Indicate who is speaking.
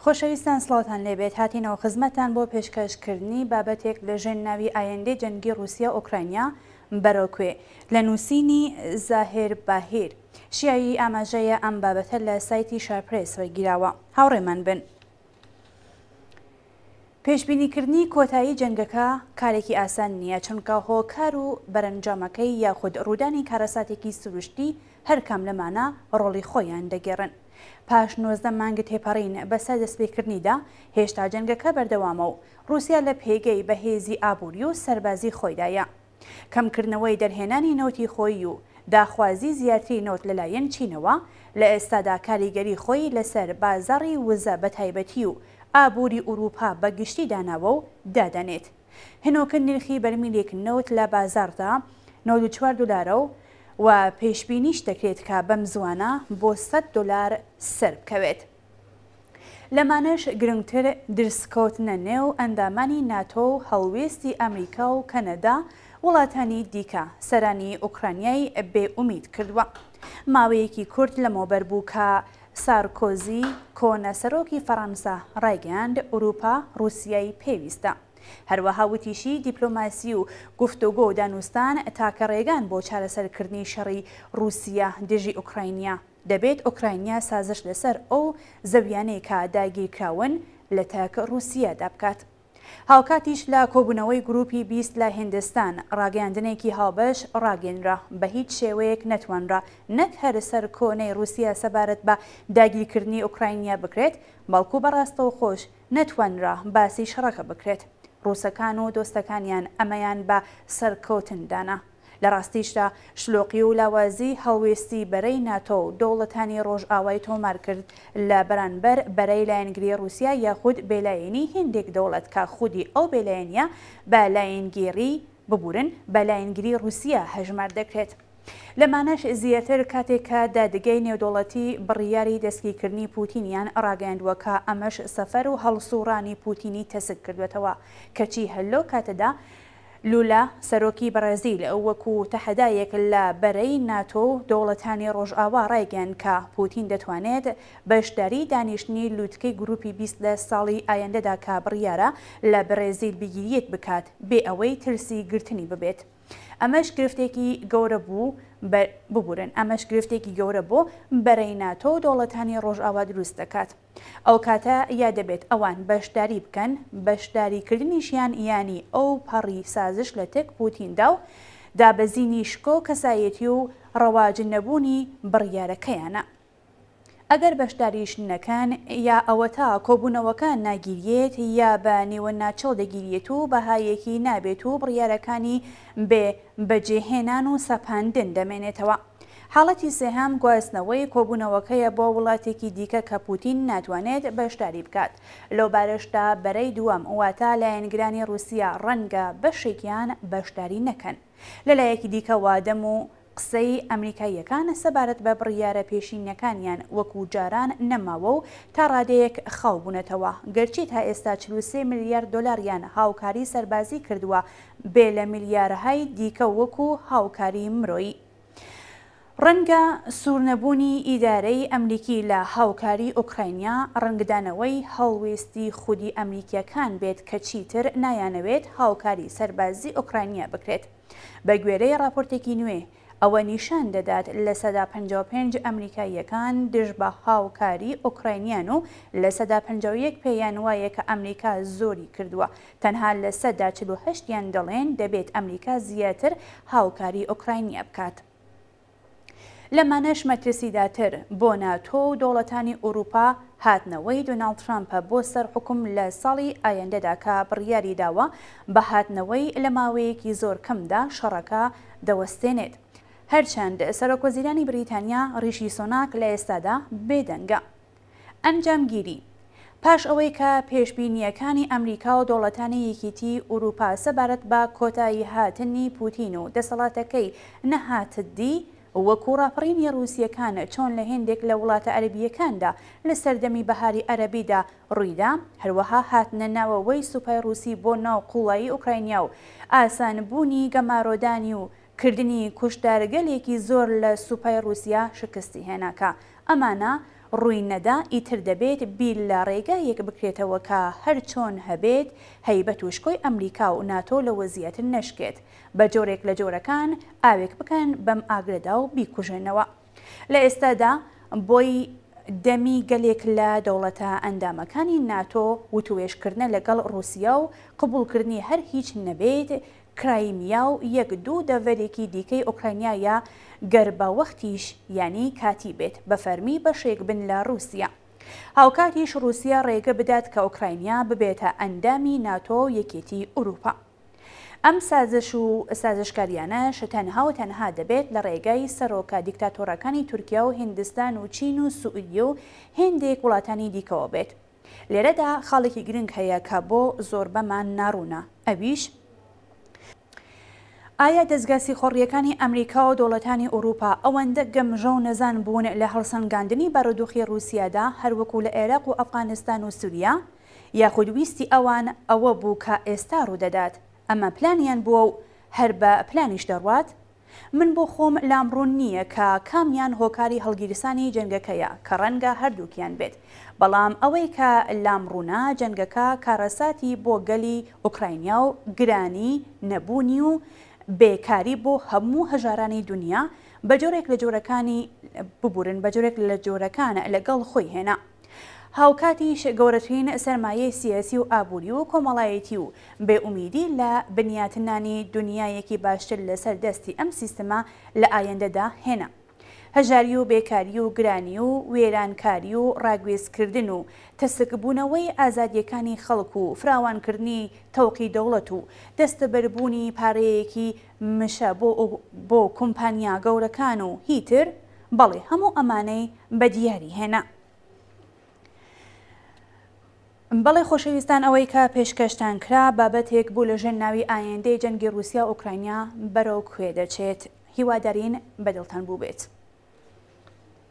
Speaker 1: خۆشەویستان سڵاوتان لێبێت هاتینەوە خزمەتان بۆ پێشکەشکردنی بابەتێک لە ژێن ناوی ئایندەی جەنگی رووسیا ئۆکراینیا بەرۆکوێ لە نووسینی زاهێر باهیر شیایی ئاماژەیە ئەم بابەتە لە سایتی شارپرێس ڕێگیراوە هاوڕێمان بن. پێشبینیکردنی کۆتایی جەنگەکە کارێکی ئاسان نییە، چونکە هۆکار و بەرەنجامەکەی یاخود ڕوودانی کارەساتێکی سروشتی هەرکام لەمانە ڕۆڵی خۆیان دەگێڕن. پاش نۆزدە مانگ تێپەڕین بەسەر دەستپێکردنیدا، هێشتا جەنگەکە بەردەوامە و ڕووسیا لە پێگەی بەهێزی ئابووری و سەربازی خۆیدایە. کەمکردنەوەی دەرهێنانی نەوتی خۆیی و داخوازی زیاتری نەوت لەلایەن چینەوە، لە ئێستادا کاریگەری خۆی لەسەر بازاڕی وزە بەتایبەتی و ئابووری ئورووپا بەگشتی داناوە و دادەنێت. هەنووکە نرخی بەرمیلێک نەوت لە بازاڕدا نەوەد و چوار دۆلارە و پێشبینیش دەکرێت کە بەمزووانە بۆ سەد دۆلار سەربکەوێت. لەمانەش گرنگتر درزکەوتنە نێو ئەندامانی ناتۆ و هەڵوێستی ئەمریکا و کەنەدا وڵاتانی دیکە سەرانی ئۆکرانیای بێ ئومید کردووە. ماوەیەکی کورت لەمەوبەر بوو کە سارکۆزی کۆنە سەرۆکی فەڕەنسا ڕایگەیاند ئورووپا ڕووسیای پێویستە. هەروەها وتیشی دیپلۆماسی و گفتۆگۆ و دانوستان تاکە ڕێگان بۆ چارەسەرکردنی شەڕی ڕووسیە دژی ئۆکراینیا. دەبێت ئۆکراینیا سازش لەسەر ئەو زەوییانەی کە داگیرکراون لە تەک ڕووسیەدا بکات. هاوکاتیش لە کۆبوونەوەی گرووپی بیست لە هیندستان، ڕاگەیاندنێکی هاوبەش ڕاگەیەنرا، بە هیچ شێوەیەک نەتوانرا نەک هەر سەرکۆنەی ڕووسیە سەبارەت بە داگیرکردنی ئۆکراینیا بکرێت، بەڵکو بە ڕاستەوخۆش نەتوانرا باسی شەڕەکە بکرێت. ڕووسەکان و دۆستەکانیان ئەمەیان بە سەرکەوتن دانا. لە ڕاستیشدا شلۆقی و لاوازی هەڵوێستی بەرەی ناتۆ و دەوڵەتانی ڕۆژئاوای تۆمار کرد لە بەرانبەر بەرەی لایەنگری ڕووسیا یاخود بێلایەنی هێندێک دەوڵەت کە خودی ئەو بێلایەنییە بە لایەنگیری ببورن بە لایەنگری ڕووسیا هەژمار دەکرێت. لەمانەش زیاتر کاتێک کە دادگای نێودەوڵەتی بڕیاری دەستگیرکردنی پووتینیان ڕاگەیاندووە کە ئەمەش سەفەر و هەڵسووڕانی پووتینی تەسک کردووەتەوە کەچی هەر لەو کاتەدا لولا سەرۆکی بەڕێزیل وەکو تەحەدایەک لە بەرەی ناتۆ و دەوڵەتانی ڕۆژئاوا ڕایگەیاند کە پوتین دەتوانێت بەشداری دانیشتنی لوتکەی گروپی بیست لە ساڵی ئایندەدا کە بڕیارە لە بەرێزیل بگیریت بکات بێ ئەوەی ترسی گرتنی ببێت ئەمەش گرفتێکی گەورە بوو بە ببورن ئەمەش گرفتێکی گەورە بۆ بەرەی ناتۆ و دەوڵەتانی ڕۆژئاوا دروست دەکات. ئەوکاتە یا دەبێت ئەوان بەشداری بکەن، بەشداریکردنیشیان یانی ئەوپەڕی سازش لە تەک پوتیندا و دابەزینی شکۆ کەسایەتی و ڕەواج نەبوونی بڕیارەکەیانە. ئەگەر بەشداریش نەکەن، یا ئەوەتا کۆبوونەوەکە ناگیریێت یا بە نیوەناچڵ دەگیریێت و بەهایەکی نابێت و بڕیارەکانی بێ بەجێهێنان و سەپاندن دەمێنێتەوە. حاڵەتی سێهەم گواستنەوەی کۆبوونەوەکەیە بۆ وڵاتێکی دیکە کە پووتین ناتوانێت بەشداری بکات. لەو بارەشدا بەرەی دووەم واتە لایەنگرانی ڕووسیا ڕەنگە بەشێکیان بەشداری نەکەن. لە لایەکی دیکەوە دەم و قسەی ئەمریکاییەکان سەبارەت بە بڕیارە پێشینەکانیان وەکوو جاران نەماوە و تا ڕادەیەک خاو بوونەتەوە. گەرچی تا ئێستا چل و سێ ملیار دۆلاریان هاوکاری سەربازی کردووە بێ لە میلیارەهای دیکە وەکو هاوکاری مرۆیی. ڕەنگە سوورنەبوونی ئیدارەی ئەمریکی لە هاوکاری ئۆکراینیا ڕەنگدانەوەی هەڵوێستی خودی ئەمریکییەکان بێت کە چیتر نایانەوێت هاوکاری سەربازی ئۆکراینیا بکرێت. بە گوێرەی ڕاپۆرتێکی نوێ ئەوە نیشان دەدات لە سەدا پەنجا و پێنج ئەمریکاییەکان دژ بە هاوکاری ئۆکراینیان و لە سەدا پەنجا و یەک پێیان وایە کە ئەمریکا زۆری کردووە، تەنها لە سەدا چل و هەشت یان دەڵێن دەبێت ئەمریکا زیاتر هاوکاری ئۆکراینیا بکات. لەمانەش مەترسیداتر بۆ ناتۆ و دەوڵەتانی ئورووپا هاتنەوەی دۆناڵد ترامپە بۆ سەر حوکم لە ساڵی ئایندەدا کە بڕیاری داوە بە هاتنەوەی لە ماوەیەکی زۆر کەمدا شەڕەکە دەوەستێنێت. هەرچەند سەرۆکوەزیرانی بریتانیا ڕیشی سۆناک لە ئێستادا بێدەنگە. ئەنجامگیری، پاش ئەوەی کە پێشبینییەکانی ئەمریکا و دەوڵەتانی یەکیتیی ئورووپا سەبارەت بە کۆتاییهاتنی پووتین و دەسەڵاتەکەی نەهاتددی، وەکوو ڕاپەڕینی ڕووسییەکان چۆن لە هێندێک لە وڵاتە عەرەبییەکاندا لە سەردەمی بەهاری عەرەبیدا ڕوویدا، هەروەها هاتنە ناوەوەی سوپای ڕووسی بۆ ناو قوڵایی ئۆکراینیا و ئاسانبوونی گەمارۆدانی و کردنی کوشتارگەلێکی زۆر لە سوپای ڕووسیا شکستی هێنا کە ئەمانە ڕووی نەدا ئیتر دەبێت بیر لە ڕێگایەک بکرێتەوە کە هەرچۆن هەبێت هەیبەت و شکۆی ئەمریکا و ناتۆ لەوە زیاتر نەشکێت بە جۆرێک لە جۆرەکان ئاوێک بکەن بەم ئاگرەدا و بیکوژێنەوە. لە ئێستادا بۆی دەمی گەلێک لە دەوڵەتە ئەندامەکانی ناتۆ وتوێژکردنە لەگەڵ ڕووسیا و قبووڵکردنی هەر هیچ نەبێت کرایمیا و یەک دوو دەڤەرێکی دیکەی ئۆکراینایە گەر بە وەختیش یانی کاتی بێت بە فەرمی بەشێک بن لە ڕووسیا. هاوکاتیش ڕووسیا ڕێگە بدات کە ئۆکراینیا ببێتە ئەندامی ناتۆ و یەکێتی ئورووپا. ئەم سازش و سازشکاریانەش تەنها و تەنها دەبێت لە ڕێگای سەرۆکە دیکتاتۆڕەکانی تورکیا و هیندستان و چین و سوئدی و هێندێک وڵاتانی دیکەوە بێت. لێرەدا خاڵێکی گرنگ هەیە کە بۆ زۆربەمان ناڕوونە، ئەویش، ئایا دەزگا سیخۆڕییەکانی ئەمریکا و دەوڵەتانی ئوروپا ئەوەندە گەمژە و نەزان بوون لە هەڵسەنگاندنی بارودوخی ڕوسیادا هەروەکو لە عێراق و ئەفغانستان و سوریا؟ یاخود ویستی ئەوان ئەوە بوو کە ئێستا ڕوودەدات، ئەمە پلانیان بووە و هەر بە پلانیش دەڕوات؟ من بۆ خۆم لام ڕوون نییە کە کامیان هۆکاری هەڵگیرسانی جەنگەکەیە کە ڕەنگە هەردووکیان بێت، بەڵام ئەوەی کە لام ڕوونە جەنگەکە کارەساتی بۆ گەلی ئۆکراینیا و گرانی نەبوونی و بێ کاری بۆ هەموو هەژارانی دونیا بە جۆرێک لە جۆرەکانی ببورن بە جۆرێک لە جۆرەکان لەگەڵ خۆی هێنا. هاوکاتیش گەورەترین سەرمایەی سیاسی و ئابووری و کۆمەڵایەتی و بێ ئومیدی لە بنیاتنانی دونیایەکی باشتر لەسەر دەستی ئەم سیستمە لە ئایندەدا هێنا. هەژاری و بێکاری و گرانی و وێرانکاری و ڕاگوێزکردن و تەسکبوونەوەی ئازادییەکانی خەڵک و فراوانکردنی تەوقی دەوڵەت و دەستەبەربوونی پارەیەکی مشە بۆ بۆ کومپانیا گەورەکان و هی تر بەڵی هەموو ئەمانەی بە دیاری هێنا. بەڵێ خۆشەویستان ئەوەی کە پێشکەشتان کرا بابەتێک بوو لە ژێن ناوی ئایندەی جەنگی روسیا ئۆکراینیا بەرەو کوێ دەچێت هیوادارین بەدڵتان بووبێت.